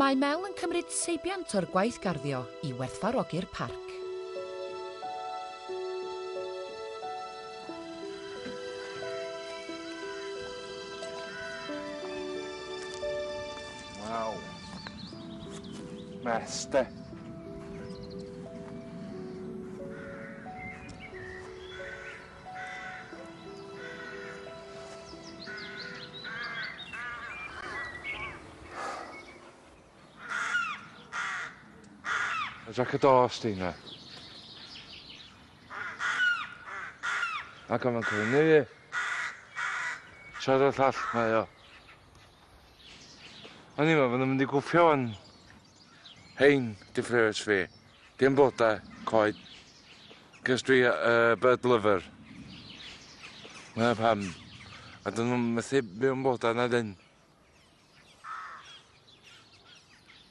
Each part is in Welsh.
Mae Mel yn cymryd seibiant o'r gwaith garddio i werthfarogi'r parc. Waw. Mess, de. Jac y dos di na. Ac o'n cwrdd ni. Siarad llall mae o. O'n i'n meddwl bod nhw'n mynd i gwffio yn hein dy ffres fi. Dim blodau, coed. Cys dwi uh, bird lover. Mae'n pam. A dyn nhw'n methu byw yn blodau na dyn.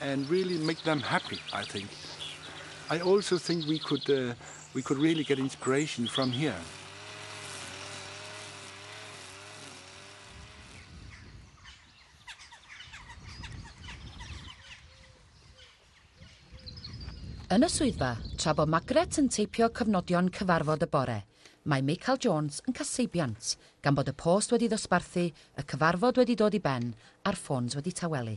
and really make them happy, I think. I also think we could, uh, we could really get inspiration from here. Yn y swyddfa, tra bod Magret yn teipio cyfnodion cyfarfod y bore, mae Michael Jones yn caseibiant, gan bod y post wedi ddosbarthu, y cyfarfod wedi dod i ben a'r ffôns wedi tawelu.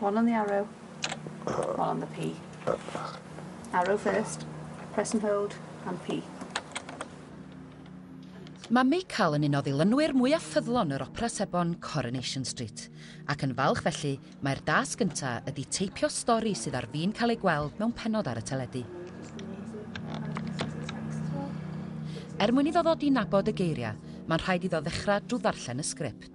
One on the arrow. One on the P. Arrow first. Press and hold. And P. Mae Michael yn un o ddilynwyr mwyaf ffyddlon yr Opera Sebon Coronation Street, ac yn falch felly mae'r dasg gynta ydi teipio stori sydd ar fin cael ei gweld mewn penod ar y teledu. Er mwyn iddo ddod i nabod y geiriau, mae'n rhaid iddo ddechrau drwy ddarllen y sgript.